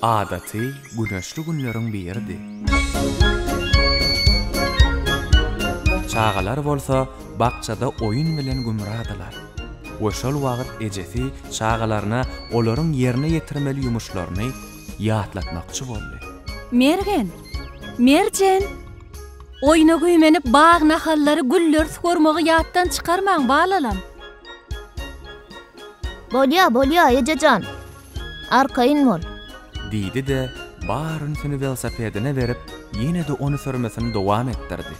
Adaty güneşli günleriň biridi. Çagalar bolsa bakjada oýun bilen gümradylar we şol wagt ejesi çagalaryna olaryň ýerine ýetirmeli ýumuşlaryny ýatlatmakçy boldy. Mergen! Merjen! Oýna güýmenip bag nahallary, gülleri sugurmagy ýatdan çykarmaň, balalam! Bolýa, bolýa, eje jan. Arkaýyn bol. Diýdi-de, bar ünsüni welosipedine berip, ýene-de ony sürmesini dowam etdirdi.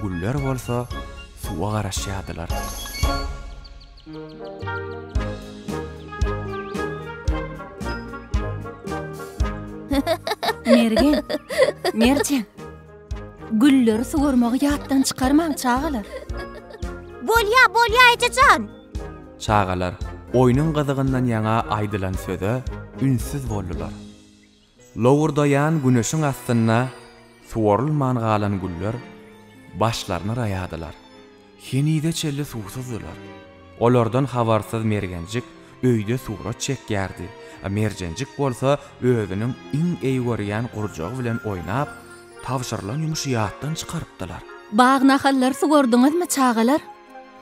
Güller bolsa suwa garaşýardylar. Mergen, Merjen. Gülleri suwarmagy ýatdan çykarmaň, çagalar. Bolýa, bolýa, eje jan. Çagalar oýnuň gyzygyndan ýaňa aýdylan söze ünssüz boldular. Lowurdaýan güneşiň astynda suwarylman galan güller başlaryny raýadylar. Henize çenli suwsuzdylar. Olardan habarsyz Mergenjik öýde surat çekýärdi, Merjenjik bolsa özüniň iň eý görýän gurjagy bilen oýnap, tabşyrylan ýumuşy ýatdan çykarypdylar. Bag-nahallary suwardyňyzmy, çagalar?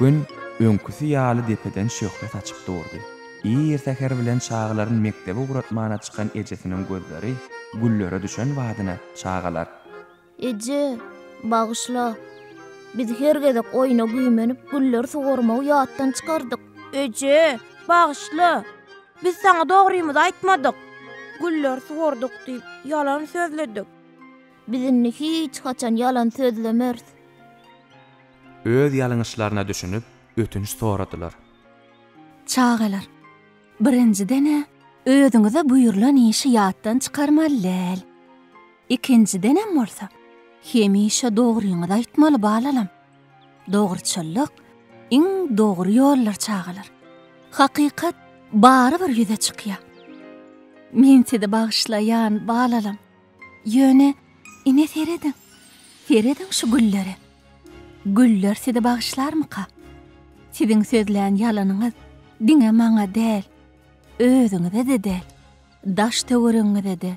Gün öňküsi ýaly depeden şöhle saçyp durdy. Ir säher bilen çagalaryny mekdebe ugratmana çykan ejesiniň gözleri güllere düşen badyna çagalar. Eje, bagyşla. Biz her gezek oýna güýmenip gülleri suwarmagy ýatdan çykardyk. Eje, bagyşla. Biz saňa dogrymyzy aýtmadyk. Gülleri suwardyk diýip ýalan sözledik. Biz indi hiç haçan ýalan sözlemeris. Öz ýalňyşlaryna düşünip, ötünç soradylar. Çagalar, birinjiden-ä özüňize buýrulan işi ýatdan çykarmaly däl. Ikinjidenem bolsa, hemişe dogryňyzy aýtmaly balalam. Dogruçyllyk, iň dogry ýoldur çagalar. Hakykat barybir ýüze çykýar. Men sizi bagyşlaýan balalam. Ýöne, ine serediň, serediň şu güllere. Güller sizi bagyşlarmyka? Siziň sözlän ýalanyňyz diňe maňa däl, özüňize-de däl, daş-töweregiňize-de,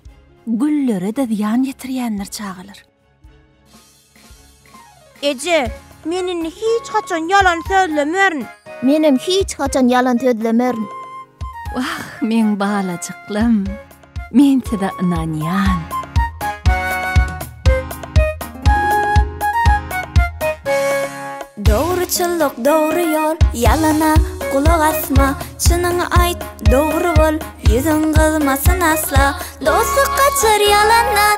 güllere-de zyýan ýetirýändir çagalar. Eje, men indi hiç haçan ýalan sözlemerin. Menem hiç haçan ýalan sözlemerin. Wah, meň balajyklarym, men size ynanýan. Dogruçyllyk dogry ýol, ýalana gulak asma, çynyňy aýt, dogry bol, ýüzüň gyzmasyn asla. Dostluk gaçar ýalandan,